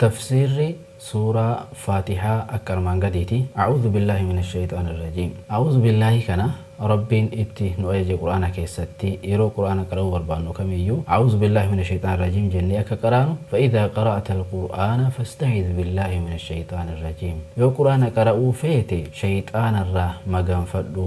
Tafsiirri suuraa faatihaa akka armaan gadiiti, A'uuzu billaahi mina sheyxaani rajiim. A'uuzu billaahi kana Rabbiin itti nu ajaje Qur'aana keessatti yeroo Qur'aana qara'uu barbaannu kamiyyuu A'uuzu billaahi mina sheyxaani rajiim jennee akka qaraanu Fa izaa qara'atal qur'aana fasta'iz billaahi mina sheyxaani rajiim Yoo Qur'aana qara'uu feete sheyxaanarraa maganfadhu.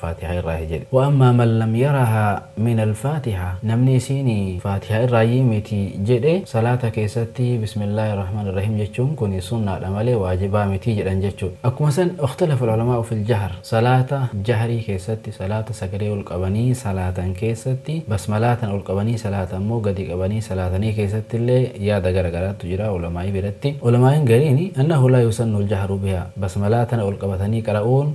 faatiha irraa hi jedhe. Wa ammaa man lam yaraha min alfaatiha namni isiin faatiha irraayyii miti jedhe salaata keessatti bismillahi arrahman arrahiim jechuun kuni sunnaadha malee waajibaa miti jedhan jechuudha. Akkuma san ikhtalafa alulamaa'u fil jahr salaata jahrii keessatti salaata sagalee ol qabanii salaatan keessatti basmalaa tana ol qabanii salaatan moo gadi qabanii salaatanii keessatti illee yaada gara garaattu jira ulamaa'ii biratti. Ulamaa'iin gariin annahu laa yusannu aljahru bihaa basmalaa tana ol qabatanii qara'uun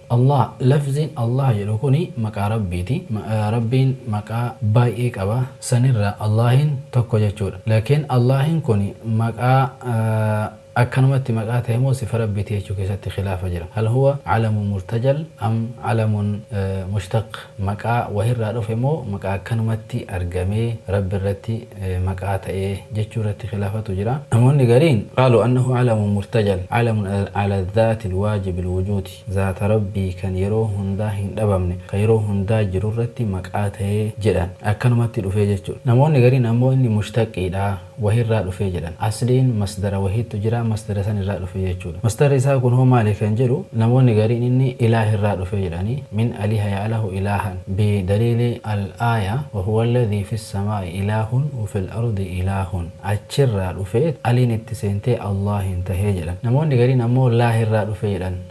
Allaah, Lafziin Allaah jedhu kuni maqaa Rabbiiti. Rabbiin maqaa baay'ee qaba. Sanirraa Allaahiin tokko jechuudha. Laakiin Allaahiin kuni maqaa akkanumatti maqaa tahe moo sifa Rabbiiti jechuu keessatti khilaafa jira. Hal huwa calamun murtajal am calamun mushtaq? Maqaa wahirraa dhufe moo maqaa akkanumatti argamee Rabbi irratti maqaa ta'e jechuu irratti khilaafatu jira. Namoonni gariin, qaaluu annahu calamun murtajal, calamun cala dhaatil waajibil wujuudi, zaata Rabbii kan yeroo hundaa hin dhabamne, kan yeroo hundaa jiru irratti maqaa ta'e jedhan. Akkanumatti dhufee jechuudha. Namoonni gariin ammoo inni mushtaqiidha. wahii irraa dhufee jedhan. Asliin masdara wahiittu jira, masdara san irraa dhufe jechuudha. Masdarri isaa kun hoo maali kan jedhu namoonni gariin inni ilaah irraa dhufe jedhanii, min aliha ya'lahu ilaahan, bi daliili al-aaya, wa huwa alladhii fi samaa'i ilaahun wa fil ardi ilaahun, achirraa dhufeet aliin itti seentee Allaahin tahe jedhan. Namoonni gariin ammoo laah irraa dhufe jedhan.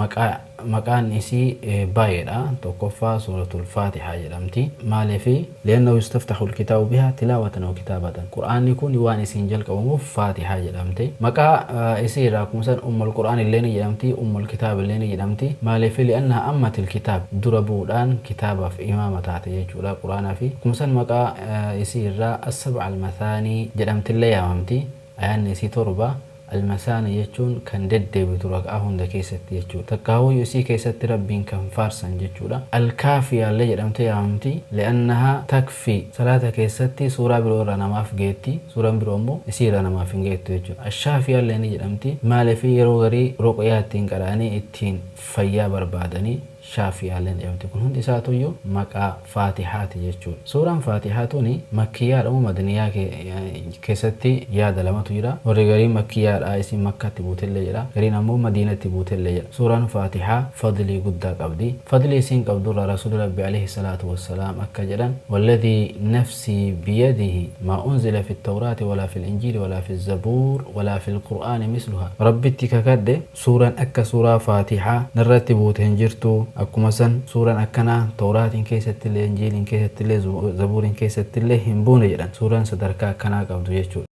Maqaa, maqaan isii baay'eedha. Tokkoffaa suuratul faatihaa jedhamti. Maaliifi? Li'annahu yustaftaxul kitaabu bihaa tilaawatan aw kitaabatan. Qur'aanni kun waan isiin jalqabamuuf faatihaa jedhamte. Maqaa isii irraa akkuma san ummul qur'aan illee ni jedhamti, ummul kitaab illee ni jedhamti. Maaliifi? Li'annahaa ammatil kitaab. Dura bu'uudhaan kitaabaaf imaama taate jechuudha, qur'aanaafi. Akkuma san maqaa isii irraa assab'al mathaanii jedhamtillee yaamamti. Ayaanni isii torba. Al-Masaana jechuun kan deddeebitu raka'aa hunda keessatti jechuudha. Takkaahuu isii keessatti Rabbiin kan faarsan jechuudha. Al-Kaafiyaa illee jedhamtee yaamamti. Li'annahaa takfii, salaata keessatti suuraa biroo irraa namaaf geetti, suuraan biroo ammoo isii irraa namaaf hin geettu jechuudha. Al-Shaafiyaa illee ni jedhamti. Maaliif yeroo garii ruqyaa ittiin qara'anii ittiin fayyaa barbaadanii. Shaafi'iyaaleen eewti. Kun hundi isaatuuyyuu maqaa Faatihaati jechuudha. Suuraan Faatihaa tuni Makkiyyaadha moo Madaniyyaa keessatti yaada lamatu jira. Warri gariin Makkiyyaadha, isiin Makkatti buutellee jedha. Gariin ammoo Madiinatti buutellee jedha. Suuraan Faatihaa fadlii guddaa qabdi. Fadlii isiin qabdurraa Rasuulli Rabbii aleyhi salaatu wassalaam akka jedhan, Walladhii nafsii biyadihi maa unzila fi Tawraati walaa fil Injiili walaa fi Zabuur walaa fil Qur'aani misluhaa. Rabbitti kakadhe! Suuran akka suuraa faatiha narratti buute hin jirtu akkuma san suuran akkanaa towraatin keessattillee injiilin keessattillee zabuurin keessattillee hin buune jedhan suuran sadarkaa akkanaa qabdu jechuudha.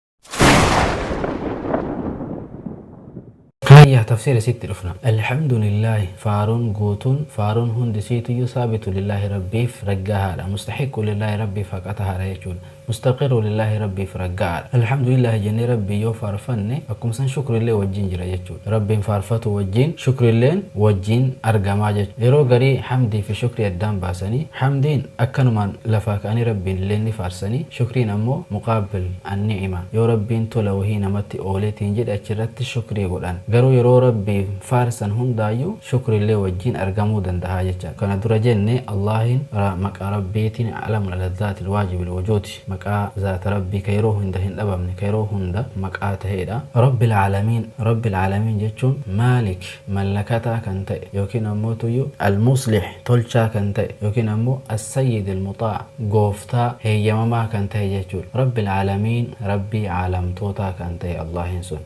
Haayya tafsiira isiitti dhufna. Alhamdulillaahi faaruun guutuun faaruun hundi isiituyyuu saabitu lillaahi rabbiif raggaahaadha mustahiqqu lillaahi rabbiif haqa tahaadha jechuudha. Mustaqiru lillaahi Rabbiif ragga'aadha. Alhamdulillaahi jennee Rabbiin yoo faarfanne akkuma san shukrillee wajjiin jira jechuudha. Rabbiin faarfatuu wajjiin shukrilleen wajjiin argamaa jechuudha. Yeroo garii hamdii fi shukrii addaan baasanii hamdiin akkanumaan lafaa ka'anii Rabbiin illeen ni faarsanii shukriin ammoo muqaabil an-ni'ima yoo Rabbiin tola wahii namatti ooleetiin jedhe achirratti shukrii godhan. Garuu yeroo Rabbiin faarsan hundaayyuu. shukriillee wajjiin argamuu dandaha jecha. Kana dura jenne Allaahin ra maqaa Rabbiitiin A'lamul ala Zaatil waajibil wujuudi, maqaa zaata Rabbii ka yeroo hunda hin dhabamne, ka yeroo hunda maqaa taheedha. Rabbil a'lamiin, Rabbil a'lamiin jechuun Maalik, mallakataa kan ta'e, ykn ammoo tuyyu Al-muslih, tolchaa kan ta'e, ykn ammoo As-sayyidil muxaa', gooftaa heeyyamamaa kan tahe jechuudha. Rabbil a'lamiin, Rabbii a'lamtootaa kan tahe Allaahin sun.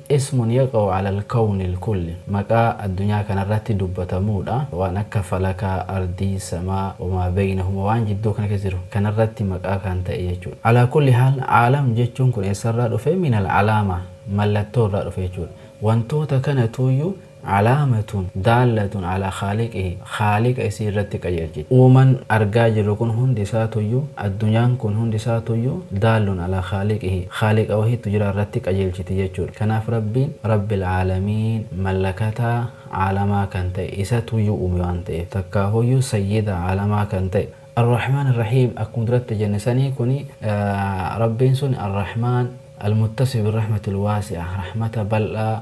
Ismun yaqa'u alal kawnil kulli, maqaa addunyaa kanarratti dubbatamuudha. Waan akka falakaa, ardii, samaa, wamaa beynahuma, waan jidduu kana keessa jiru kanarratti maqaa kan ta'e jechuudha. Alaa kulli haal, aalam jechuun kun eessarraa dhufe? Minal alaama, mallattoo irraa dhufe jechuudha. Wantoota kanatuuyyuu Calaamatun daallatun calaa khaaliqihi, khaaliqa isii irratti qajeelchiti. Uuman argaa jirru kun hundi isaatuyyuu, addunyaan kun hundi isaatuyyuu, daallun calaa khaaliqihi, khaaliqa wahiitu jira irratti qajeelchiti jechuudha. Kanaaf Rabbiin Rabbil Caalamiin, mallakataa caalamaa kan ta'e, isatuyyuu uume waan ta'eef. Takkaahuyyuu sayyida caalamaa kan ta'e. Ar-Rahmaan Ar-Rahiim akkuma duratti jenne sanii kuni Rabbiin suni Ar-Rahmaan, Al-Muttasif bir-Rahmatil Waasi'ah, rahmata bal'aa,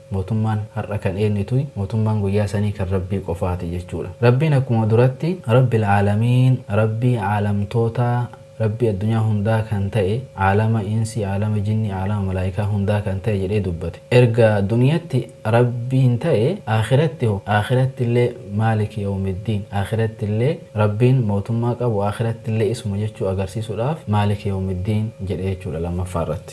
Mootummaan har'a kan eenyuti? Mootummaan guyyaa sanii kan Rabbii qofaati jechuudha. Rabbiin akkuma duratti Rabbil Aalamiin, Rabbii Aalamtootaa, Rabbii addunyaa hundaa kan ta'e, Aalama Insi, Aalama Jinni, Aalama Malaaykaa hundaa kan ta'e jedhee dubbate. Erga duniyatti Rabbiin ta'e, Aakhiratti hoo? Aakhirattillee Maaliki Yawmiddiin, Aakhirattillee Rabbiin mootummaa qabu, Aakhirattillee isuma jechuu agarsiisuudhaaf Maaliki Yawmiddiin jedhe jechuudha lammaffaa irratti.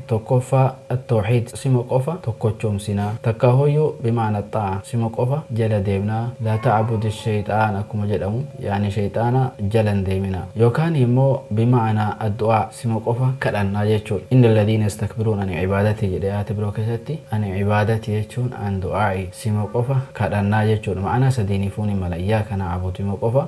Tokkoffaa, At-Tawhiid, Sima qofa tokkochoomsina. Takkaahooyyu, Bimaana At-Xaa'a, Sima qofa jala deemna. Laa ta'abudi Sheyxaan akkuma jedhamu, yaani sheyxaana jala hin deemina. Yookaanii immoo, Bimaana Ad-Du'aa, Sima qofa kadhanna jechuudha. Inna Alladhiina Yastakbiruuna An Ibaadatii jedhe aayata biroo keessatti. An Ibaadati jechuun An Du'aa'i, Sima qofa kadhanna jechuudha. Ma'anaa sadiiniifuu ni mala. Iyyaaka Na'abudu, Sima qofa.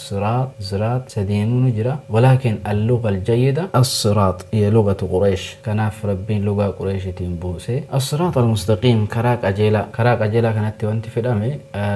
Siraax, Ziraax, sadeenu ni jira. Walaakin al-lugha al-jayyida as-siraax hiya lughatu Qureesh. Kanaaf Rabbiin lugaa Qureeshitiin buuse. As-siraax al-mustaqiim, karaa qajeelaa. Karaa qajeelaa kanatti wanti fedhame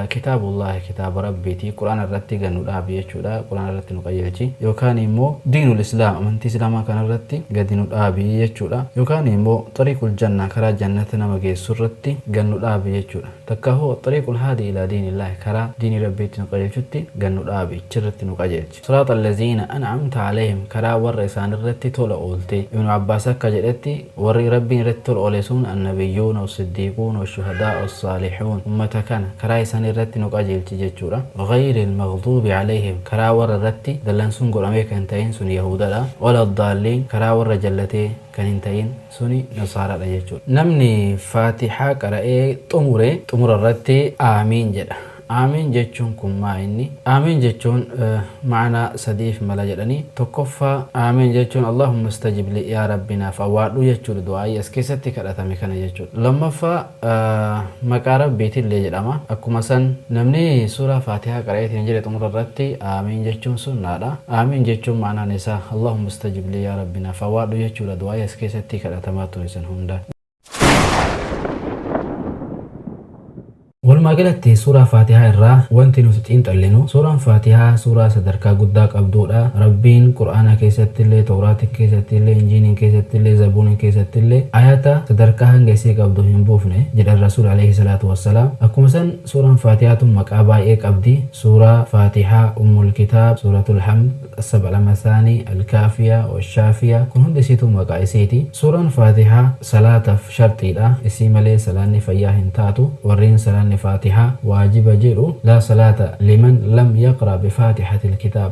Kitaabullaahi, kitaaba Rabbiiti, Qur'aana irratti gad nu dhaabi jechuudha, Qur'aana irratti nu qajeelchi. Yookaanii immoo diinul islaam, amantii islaamaa kana irratti gadi nu dhaabi jechuudha. Yookaanii immoo xariiqul jannah, karaa jannata nama geessu irratti gad nu dhaabi jechuudha. Takkaahuu Axxariiqul Haadii Ilaa Diinillaahi Karaa Diinii Rabbii Itti Nu Qajeelchutti Gad Nu Dhaabi, Ichirratti Nu Qajeelchi. Siraaxal Laziina An'amta Aleyhim Karaa Warra Isaanirratti Tola Oolte. Ibnu Abbaas Akka Jedhetti, Warri Rabbiin Irratti Tola Oole Sun Annabiyyuuna, Wassiddiiquuna, Washuhadaa, Wassaalihuun. Ummata Kana Karaa Isaanii Irratti Nu Qajeelchi Jechuudha. Ghayril Maghduubi Aleyhim Karaa Warra Irratti Dallansuun Godhamee Kan Hin Ta'iin Sun Yahuudadha. Waladdaalliin Karaa Warra Jallatee Kan Hin Ta'iin. suni nasaaraadha jechuudha. Namni faatihaa qara'ee xumure xumura irratti aamiin jedha. Aamiin jechuun kun maa inni? Aamiin jechuun ma'anaa sadiif mala jedhanii, tokkoffaa aamiin jechuun Allaahumma istajib lii yaa Rabbi naaf awwaadhu jechuudha du'aa'ii as keessatti kadhatame kana jechuudha. Lammaffaa. Maqaa Rabbiitiin illee jedhama. Akkuma san namni suuraa faatihaa qara'eetiin jedhe xumura irratti Aamiin jechuun sunnaadha. Aamiin jechuun ma'anaan isaa Allahumma istajib lii yaa Rabbi naaf awwaadhu jechuudha du'aa'ii as keessatti kadhatamaa ture san hunda. Walumaa galatti suuraa faatihaa irraa wanti nuti xiinxallinu suuraan faatihaa suuraa sadarkaa guddaa qabduudha. Rabbiin qur'aana keessatti illee, towraati keessatti illee, injiiniin keessatti illee, zabuuniin keessatti ille Aayata sadarkaa hanga isii qabdu hin buufne jedhan Rasuuli Aleeyhi Salaatu Wassalaam. Akkuma san Suuran Faatihaa tun maqaa baay'ee qabdi. Suuraa, Faatiha, Ummul Kitaab, Suuratul Hamd, As-Sab Al-Masaani, Al-Kaafiya, Wash-Shaafiya, kun hundi isiituu maqaa isiiti. Suuran Faatiha salaataf sharxiidha. Isii malee salaanni fayyaa hin taatu. Warreen salaanni Faatiha waajiba jedhu, Laa salaata liman lam yaqra bi Faatihatil Kitaab.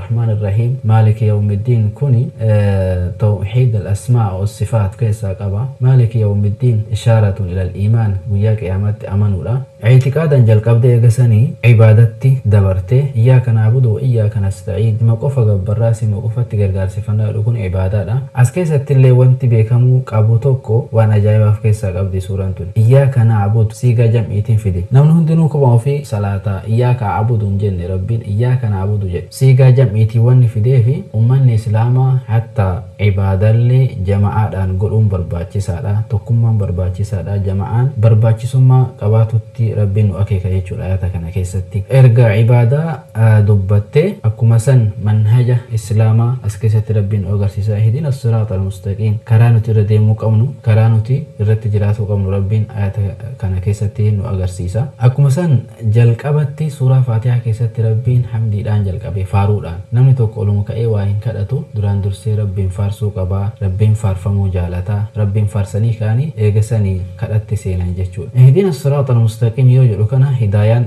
Rahmaan Irrahiim Maaliki Yawmiddiin kuni Tawhiid Al-Asmaa Was-Sifaat keessaa qaba. Maaliki Yawmiddiin Ishaaratun Ilal Iimaan Guyyaa Qiyaamaatti Amanuudha. I'tiqaadan jalqabdee eega sanii Ibaadatti dabarte. Iyyaaka Na'budu Wa Iyyaaka Nasta'iin Sima qofa gabbarra, Sima qofatti gargaarsiffanna jedhu kun Ibaadaadha. As keessattillee wanti beekamuu qabu tokko waan Ajaa'iba of keessaa qabdi suuraan tuni. Iyyaaka na'budu siigaa jam'iitiin fidi. Namni hundinuu kophaa ofii salaata. Iyyaaka a'budu hin jenne Rabbiin iyyaaka na'budu jedhe. Siigaa jam'iitiin wanni fideefi ummanni Islaamaa hattaa ibaadaallee jama'aadhaan godhuun barbaachisaadha, tokkummaan barbaachisaadha, jama'aan barbaachisummaa qabaatutti Rabbiin nu akeeka jechuudha aayata kana keessatti. Erga ibaadaa. dubbatte akkuma san manhaja islaama as keessatti rabbiin nu agarsiisa ihdina assiraat almustaqiim karaa nuti irra deemuu qabnu karaa nuti irratti jiraatuu qabnu rabbiin ayata kana keessatti nu agarsiisa akkuma san jalqabatti suuraa faatihaa keessatti rabbiin hamdiidhaan jalqabe faaruudhaan namni tokko oluma ka'ee waa hin kadhatu duraan dursee rabbiin faarsuu qaba rabbiin faarfamuu jaalata rabbiin faarsanii ka'anii eega sanii kadhatti seenan jechuudha ihdina assiraat almustaqiim yoo jedhu kana hidaayaan